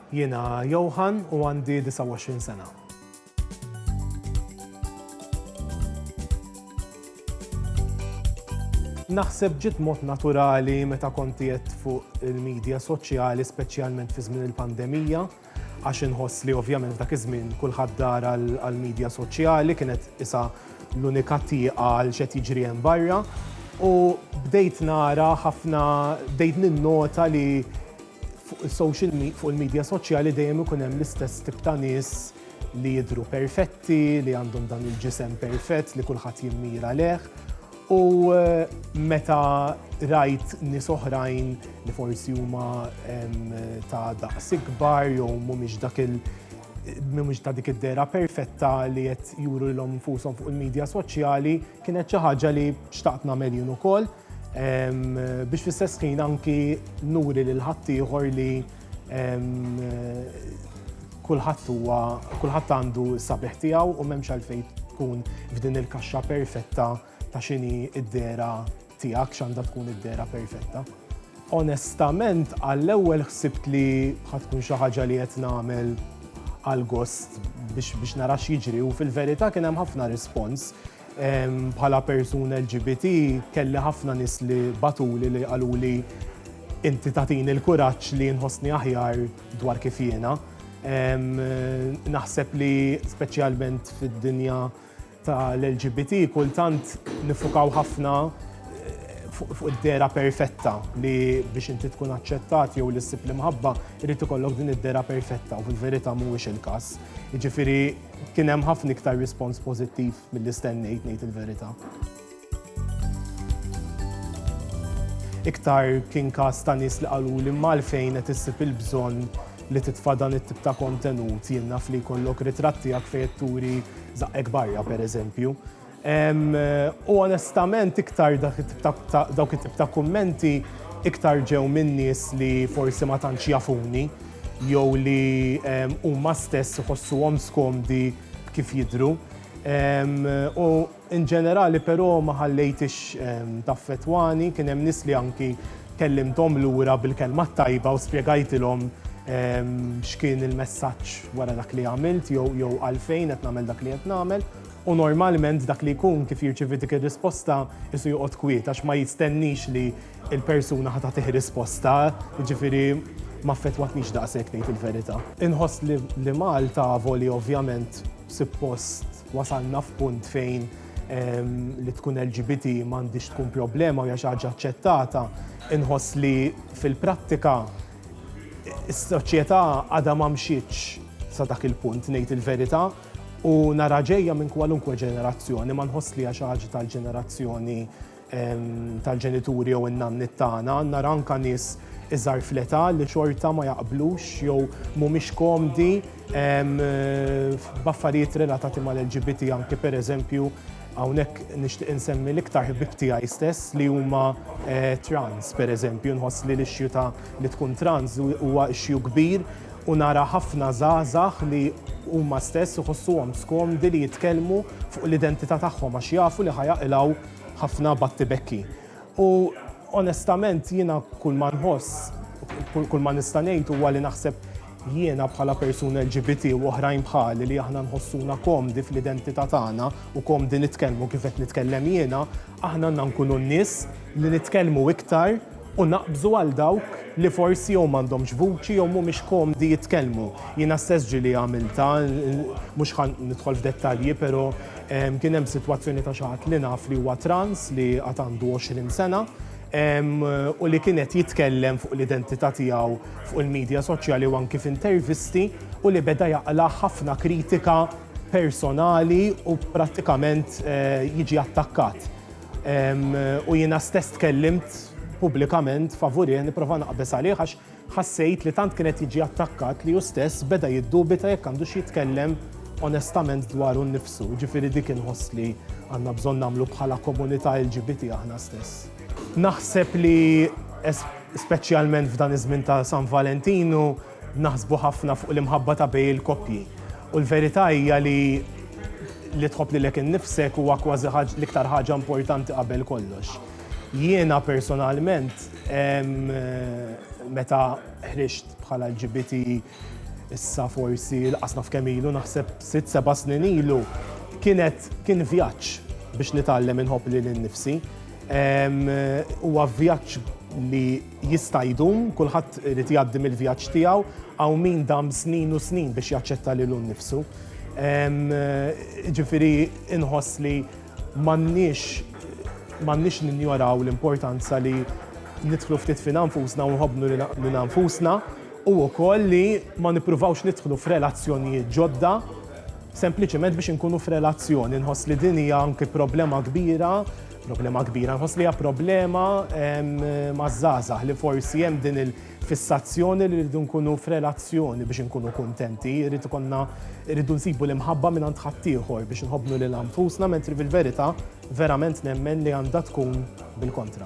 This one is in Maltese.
Jiena Johan u għandi 29 sena. Naħseb ġiet mod naturali meta kont qiegħed fuq il-midja soċjali speċjalment fi żmien il-pandemija għax inħoss li ovvjament dak iż-żmien kulħadd dar għall-midja soċjali kienet isa l-unika tieqa għal xed jiġri hemm barra u bdejt nara ħafna bdejt ninnota li Fuq is-social me- fuq il-medja soċjali dejjem ikun hemm l-istess tip ta' nies li jidhru perfetti, li għandhom dan il-ġisem perfett li kulħadd jimmira lejh. U eh, meta rajt nies oħrajn li forsi huma em, ta' daqs ikbar jew mhumiex dak il- mhumiex ta' dik id-dera perfetta li qed juru lilhom infushom fuq il-medja soċjali, kienet xi ħaġa li xtaqt nagħmel jien ukoll. biex fl-istess ħin anki nuri lil ħaddieħor li kulħadd huwa kulħadd għandu sabiħ tiegħu u m'hemmx għalfejn tkun f'din il-kaxxa perfetta ta' xini id-dera tiegħek x'għandha tkun id-dera perfetta. Onestament, għall-ewwel ħsibt li ħatkun xi ħaġa li qed nagħmel għal gost biex nara x'jiġri u fil-verità kien hemm ħafna rispons Bħala persuna LGBT kelli ħafna nies li bagħtuli li qaluli inti tagħtini l-kuraġġ li nħossni aħjar dwar kif jiena. Naħseb li speċjalment fid-dinja tal-LGBT kultant nifukaw ħafna fuq id-dera perfetta li biex inti tkun aċċettat jew li ssib l-imħabba jrid ikollok din id-dera perfetta u fil-verità mhuwiex il-każ. Jiġifieri Kien hemm ħafna iktar rispons pożittiv milli stennejt ngħid il-verità. iktar kien kas ta' nis li qalu li malfejn qed issib il-bżonn li titfa' dan it-tip ta' kontenut jien naf li jkollok ritratti għak fejn turi zaqqek barja pereżempju. U onestament iktar dawk it-tip ta' kummenti iktar ġew minn nies li forsi ma tantx jafuni jew li huma stess iħossuhom skomdi b'kif jidhru. U in ġenerali però ma ħallejthiex taffettwani, kien hemm nies li anki kellimthom lura bil-kelma t-tajba u spjegajtilhom x'kien il-messaġġ wara dak li għamilt jew għalfejn qed nagħmel dak li qed nagħmel. U normalment dak li jkun kif jirċievi dik ir-risposta qisu joqgħod kwiet għax ma jistenniex li l-persuna ħa tagħtih risposta, jiġifieri ma affettwatnix daqshekk ngħid il-verità. Inħoss li Malta avolja ovvjament suppost wasalna f'punt fejn li tkun LGBT m'għandhiex tkun problema u hija xi ħaġa aċċettata, inħoss li fil-prattika s-soċjetà għadha ma mxietx sa dak il-punt ngħid il-verità. U nara ġejja minn kwalunkwe ġenerazzjoni, ma nħoss li xi ħaġa tal-ġenerazzjoni tal-ġenituri jew in-nannit tagħna, nara anka nies iżgħar fleta li xorta ma jaqblux jew mhumiex komdi b'affarijiet relatati mal-LGBT anki pereżempju hawnhekk nixtieq insemmi l-iktar ħbib tiegħi stess li huma eh, trans pereżempju nħoss li l-ixxju ta' li tkun trans huwa ixxju kbir u nara ħafna żgħażagħ li huma stess iħossuhom skomdi li jitkellmu fuq l-identità tagħhom għax jafu li ħa jaqilgħu ħafna battibekki. U onestament jiena kull ma nħoss, kull ma nista' ngħid huwa li naħseb jiena bħala persuna LGBT u oħrajn bħali li aħna nħossuna komdi fl-identità tagħna u komdi nitkellmu kif qed nitkellem jiena, Aħna għandna nkunu n-nies li nitkellmu iktar u naqbżu għal dawk li forsi jew m'għandhomx vuċi jew mhumiex komdi jitkellmu. Jiena stess ġieli għamiltha, mhux ħa nidħol f'dettalji, però kien hemm sitwazzjoni ta' xi ħadd li naf li huwa trans li għad għandu 20 sena u li kien qed jitkellem fuq l-identità tiegħu fuq il-midja soċjali u anki f'intervisti u li beda jaqla' ħafna kritika personali u prattikament jiġi attakkat. U jiena stess tkellimt pubblikament favurih nipprova naqbeż għalih għax ħassejt li tant kien qed jiġi attakkat li hu stess beda jiddubita jekk għandux jitkellem onestament dwaru nnifsu. Jiġifieri dik inħoss li għandna bżonn nagħmlu bħala komunità LGBT aħna stess. Naħseb li speċjalment f'dan iż-żmien ta' San Valentinu, Naħsbu ħafna fuq l-imħabba ta' bejn il-koppji. U l-verità hija li li tħobb lilek innifsek huwa kważi l-iktar ħaġa importanti qabel kollox. Jiena personalment meta ħriġt bħala LGBT issa forsi laqas naf kemm ilu naħseb sitt seba' snin ilu, kienet kien vjaġġ biex nitgħallem inħobb lili nnifsi. Huwa vjaġġ li jista' jdum, kulħadd irid jgħaddi mill-vjaġġ tiegħu, hawn min dam snin u snin biex jaċċetta lilu nnifsu. Ġifieri inħoss li m'għandniex m'għandniex ninjoraw l-importanza li nidħlu ftit fin nfusna u nħobnu li nfusna u wkoll li ma nippruvawx nidħlu f'relazzjonijiet ġodda sempliċement biex inkunu f'relazzjoni. Nħoss li din hija anki problema kbira Problema kbira, nħoss li hija problema maż-żgħażagħ li forsi hemm din il-fissazzjoni li rridu nkunu f'relazzjoni biex inkunu kuntenti, rrid ikollna rridu nsibu l-imħabba minn għand ħaddieħor biex nħobbnu lil anfusna, mentri fil-verità verament nemmen li għandha tkun bil-kontra.